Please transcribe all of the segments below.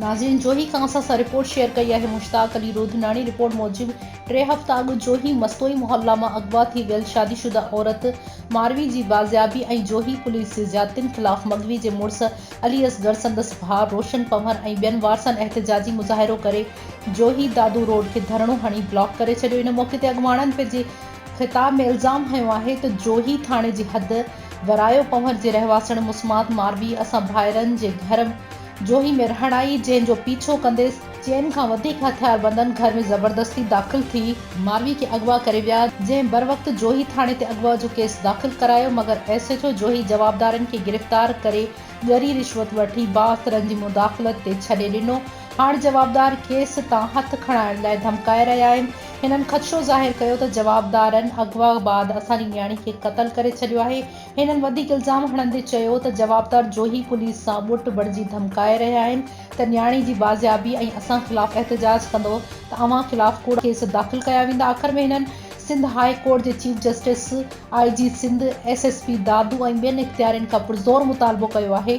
ناظرين جوهي کان اسان سان رپورٽ شيئر ڪئي آهي مشتاق علي روڌناڻي رپورٽ موجب ٽي هفتا اڳ جوهي مستوئي محلا مان اغوا ٿي ويل شادي شده عورت ماروي جي بازيابي ۽ جوهي پوليس جي زيادتين خلاف مغوي جي مڙس علي اصغر سندس ڀاء روشن پنهور ۽ ٻين وارثن احتجاجي مظاهرو ڪري جوهي دادو روڊ کي ڌرڻو هڻي بلاڪ ڪري ڇڏيو ان موقعي تي اڳواڻن پنهنجي خطاب ۾ الزام هنيو آهي ته جوهي ٿاڻي جي حد ورايو پنهور جي رهواسڻ مسمات ماروي اسان ڀائرن جي گهر جوهي ۾ رهڻ آئي جنهن جو پيڇو ڪندي چئن کان وڌيڪ هٿياربندن گهر ۾ زبردستي داخل ٿي ماروي کي اغوا ڪري ويا جنهن بروقت جوهي ٿاڻي تي اغوا جو ڪيس داخل ڪرايو مگر ايس ايڇ او جوهي جوابدارن کي گرفتار ڪري ڳري رشوت وٺي بااثرن جي مداخلت تي ڇڏي ڏنو هاڻ جوابدار کيس تان هٿ کڻائڻ لاء ڌمڪائي رهيا آهن. هنن خدشو ظاهر ڪيو ته جوابدارن اغوا بعد اسان جي نياڻي کي قتل ڪري ڇڏيو آهي. هنن وڌيڪ الزام هڻندي چيو ته جوابدار جوهي پوليس سان ٻوٽ بڻجي ڌمڪائي رهيا آهن ته نياڻي جي بازيابي ۽ اسان خلاف احتجاج ڪندو ته اوهان خلاف ڪوڙا ڪيس داخل ڪيا ويندا. آخر ۾ هنن سنڌ هاء ڪورٽ جي chief justice, I G Sindh, S S P Dadu ۽ ٻين اختيارين کان پرزور مطالبو ڪيو آهي.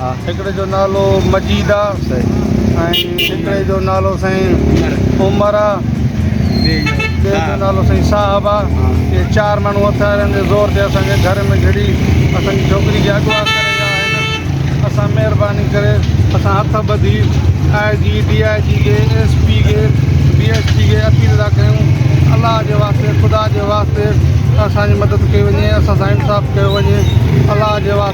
هڪڙي جو نالو مجيد آ ۽ هڪڙي جو نالو سائين عمر آ ٻئي جو نالو سائين صاحب آ اهي چار ماڻهو هٿيارن جي زور تي اسان کي گهر ۾ گهڙي اسان جي ڇوڪري کي اغوا ڪري ويا آهن اسان مهرباني ڪري اسان هٿ ٻڌي آء جي ڊي آء جي کي ايس پي کي ڊي ايس پي کي اپيل ٿا ڪيون الله جي واسطي خدا جي واسطي اسان جي مدد ڪئي وڃي اسان سان انصاف ڪيو وڃي الله جي واسطي